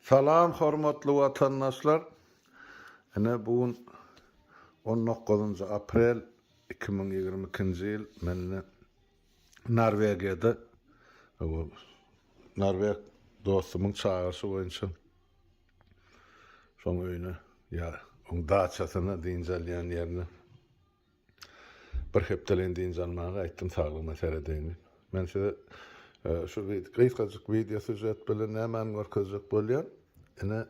Salam hormatly watandaşlar! Ine bu gün on dokuzynjy aprel iki müň ýigrimi ikinji ýyl men ine Norwegiýada norweg dostumyň çagyryşy boýunça şoň öýüne ýa oň daçasyna dynç alýan ýerine Bir hepdeleýin dynç almaga aýtdym saglygyma seredeýin diýip. Men size şu gysgajyk wideo sýužet bilen nämäni görkezjek bolýan? Ine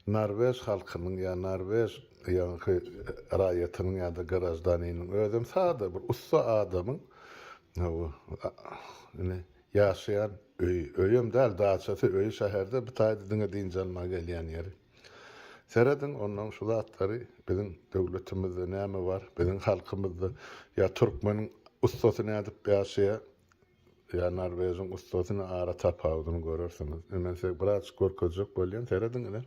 Norwež halkynyň ýa Norwež ýaňky raýatynyň ýa-da graždaniniň özem sada bir ussa adamyň ine ýaşaýan öýi, öýem däl daçasy, öýi şäherde bitaýda diňe dynç almaga gelýän ýeri. Serediň ondan şu zatlary biziň döwletimizde näme bar, biziň halkymyzda ýa türkmeniň ussasy nädip ýaşaýar, ýa norwejiň ussasyny ara tapawudyny görersiňiz. Indi men size birazjyk görkezjek bolýan serediň ine.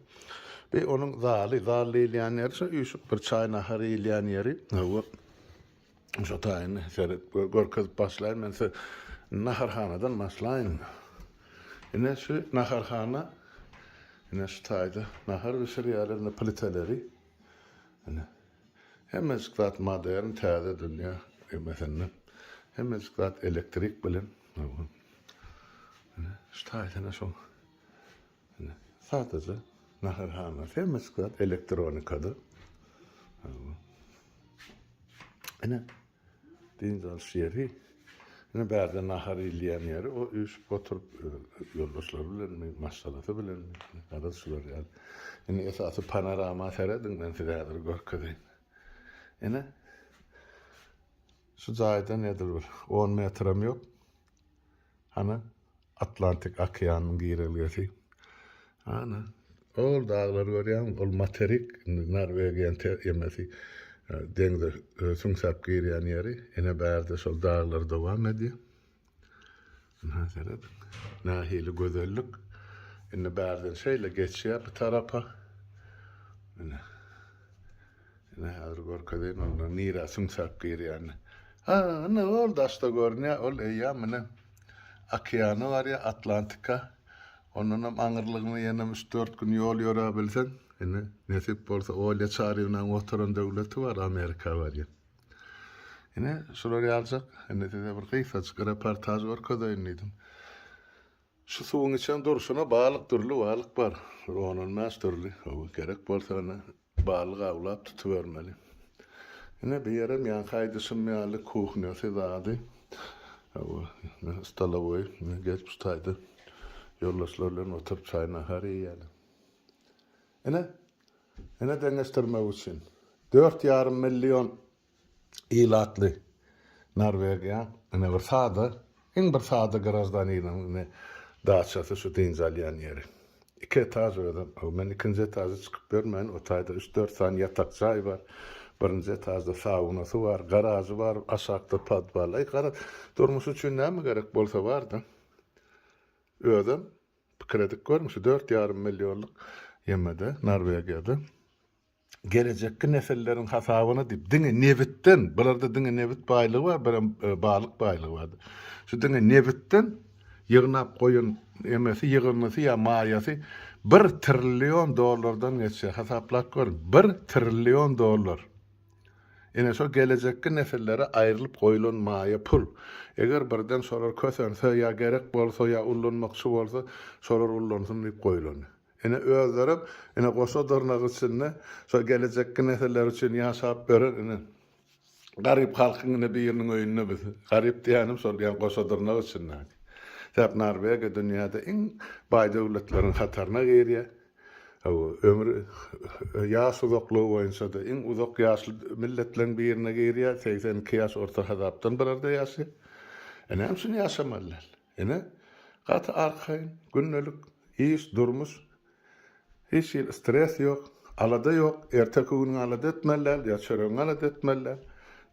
Bir onuň zaly, zal diýilýän ýeri şu üýşüp bir çaý nahar iýilýän ýeri. Hawa. Şo taýyny seret görkezip başlaýyn men size naharhanadan başlaýyn. Ine şu naharhana ine şu taýda nahar bişirýärler ine pliteleri. Ine hemmejik zat modern täze dünýä emesinde. Hemmejik zat elektrik bilen. Ine şu taýyny şo Sadaja naharhana, hemme sklad elektronikada. Ene, dynç alyş ýeri. Ene bärde nahar iýilýän ýeri, o üýşüp oturyp ýoldaşlary bilen, maşgalasy bilen, garaz şular ýaly. Ene esasy panorama serediň, men size häzir görkezeýin. Ene şu jaýdan edil bir 10 metram ýok. Hany Atlantik okeanynyň girelgesi. Ana, ol daglary görýäňmi? Ol materik, indi Norwegiýanyň te emesi, deňze süňsäp girýän ýeri. Ine, bärde şol daglar dowam edýär. Ynha, seret, nähili gözellik. Indi bärden şeýle geçýär bu tarapa. Ine. Ine, häzir görkezeýin onda nirä süňsäp girýänini. Ha, ine, ol daşda görünýär, ol eýýäm ine okeany bar ýa Atlantika. Ondanam aňyrlygyny ýenem üç-dört gün ýol ýöräbilseň, indi nesip bolsa Olýa Çarywnanyň oturan döwleti bar, Amerika barýan. Ine, şular ýaljak, indi size bir gysgajyk reportaž görkezeýin diýdim. Şu suwuň içem durşuna balyk, dürli balyk bar. Bir on-on bäş dürli, gerek bolsa indi Balyk awlap tutubermeli. Ine bu ýerem ýaňky aýdyşym ýaly kuhnýasy zady. Hawa, ine stolowoý. Ine gelip şu taýda ýoldaşlar bilen oturyp çaý-nahar iýýäler. Ine, ine deňeşdirmek üçin, dört ýarym million Ilatly Norwegiýa ine bir sada, iň bir sada graždaniniň ine daçasy şu dynç alýan ýeri. Iki etaž özem, o men ikinji etažy çykyp görmäýin, o taýda üç-dört sany ýatak jaý bar. Birinji etažda saunasy bar, garažy bar, aşakda podwal. Aý, gara, durmuş üçin näme gerek bolsa bar-da. Özem pikir edip görüň, şu dört ýarym millionlyk ýemede, Norwegiýada. gelejekki nesilleriň hasabyna diýip diňe nebitden, bularda diňe nebit baýlygy bar, birem e, balyk baýlygy bar. Şu diňe nebitden ýygnap goýan emesi ýygyndysy ýa maýasy 1 trillion dollardan geçýär. Hasaplap görüň, 1 trillion dollar. Ine şo gelejekki nesillere aýrylyp goýulan maýa pul. Eger birden şolar kösense ýa gerek bolsa ýa ullanmakçy bolsa, şolar ullansyn diýip goýulan. Ine özlerem ine goşa dyrnak içinde şo gelejekki nesiller üçin ýaşap beren ine garyp halkyň ine biriniň öýünde biz. Garyp diýýänim şol ýa goşa dyrnak içindäki. Sebäp Norwegiýa dünýäde iň baý döwletleriň hataryna girýär. Hawa, ömri ýaş uzaklygy boýunça-da iň uzak ýaşly milletleriň birine girýär, segsen iki ýaş orta hasapdan bularda ýaşaýar. E näme üçin ýaşamaly däl? Ine, gaty arkaýyn, gündelik iş, durmuş. Hiç hili stres ýok, alada ýok. Erteki günüňi alada etmeli däl, ýa çöregiňi alada etmeli däl.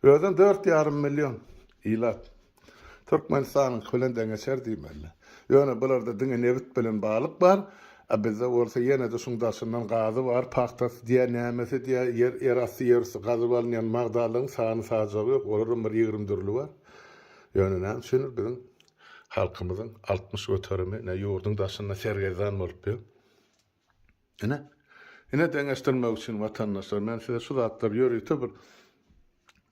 Özem dört ýarym million ilat. Türkmenistanyňky bilen deňeçer diýmeli. Ýöne bularda diňe nebit bilen balyk bar, a bizde bolsa ýene-de şuň daşyndan gazy bar, pagtasy diýä, nämesi diýä, ýer, ýerasty, ýerüsti gazyp alynýan magdalygyň sany-sajagy ýok, olaram bir ýigrimi dürli bar. Ýöne näme üçindir biziň halkymyzyň altmyş göterimi ine ýurduň daşynda sergezdan bolup ýör. Ine, ine deňeşdirmek üçin watandaşlar men size şu zatlary ýörite bir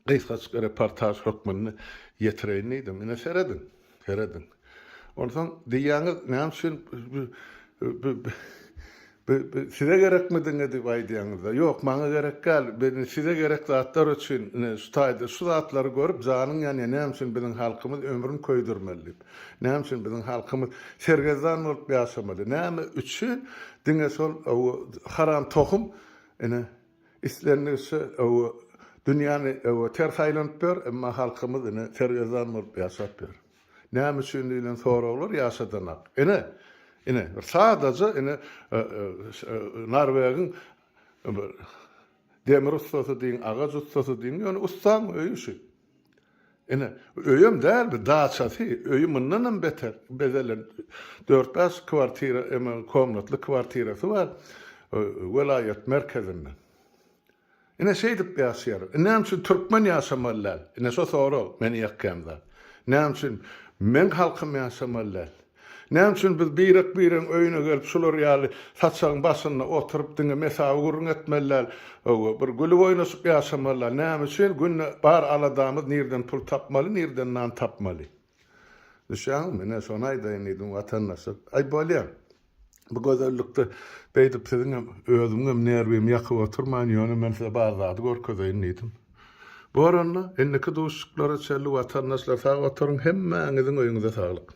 gysgaçyk reportaž hökmünde ýetireýin diýdim. Ine serediň, serediň. Onsoň diýýäňiz näme üçin Bi, bi size gerekmi diňe diýip aýdýaňyzda, ýok, maňa gerek däl, bi size gerek zatlar üçin, ine, şu taýda şu zatlary görüp janyň ýanýar, näme üçin biziň halkymyz ömrüni köýdürmeli diýip, näme üçin biziň halkymyz sergezdan bolup ýaşamaly, näme üçin diňe şol ow haram tohum, ine, islendigiçe ow dünýäni ow ters aýlanyp ýör, emma halkymyz, ine, sergezdan bolup ýaşap ýör. Näme üçin diýlen soraglar ýaşadanak. Ine, ine, bir sadaja, ine, Norwegiň bir demir ussasy diýiň, agaç ussasy diýiň, ýöne ussaň öýi şu. Ine, öýem däl bu, daçasy, öýi mundan hem beter bezelen, dört-bäş kwartira, emm, komnatly kwartirasy bar welaýat merkezinde. Ine şeýdip ýaşaýarys. Ine näme üçin türkmen ýaşamaly däl? Ine şo sorag meni ýakýan zat. Näme üçin meň halkym ýaşamaly däl? Näme üçin biz birek-biregiň öýüne gelip şular ýaly saçagyň başynda oturyp diňe mesawy gürrüň etmeli däl, bir gülüp oýnaşyp ýaşamaly däl? Näme üçin günde bar aladamyz nirden pul tapmaly, nirden nan tapmaly? Düşýäňizmi? Ine, şony aýdaýyn diýdim watandaşa. Aý, bolýar. Bu gözellikde beýdip siziň hem, özümiň hem nerwimi ýakyp oturmaýyn, ýöne men size bar zady görkezeýin diýdim. Bor onda, indiki duşuşyklara çenli watandaşlar sag oturyň, hemmäňiziň öýüňize saglyk.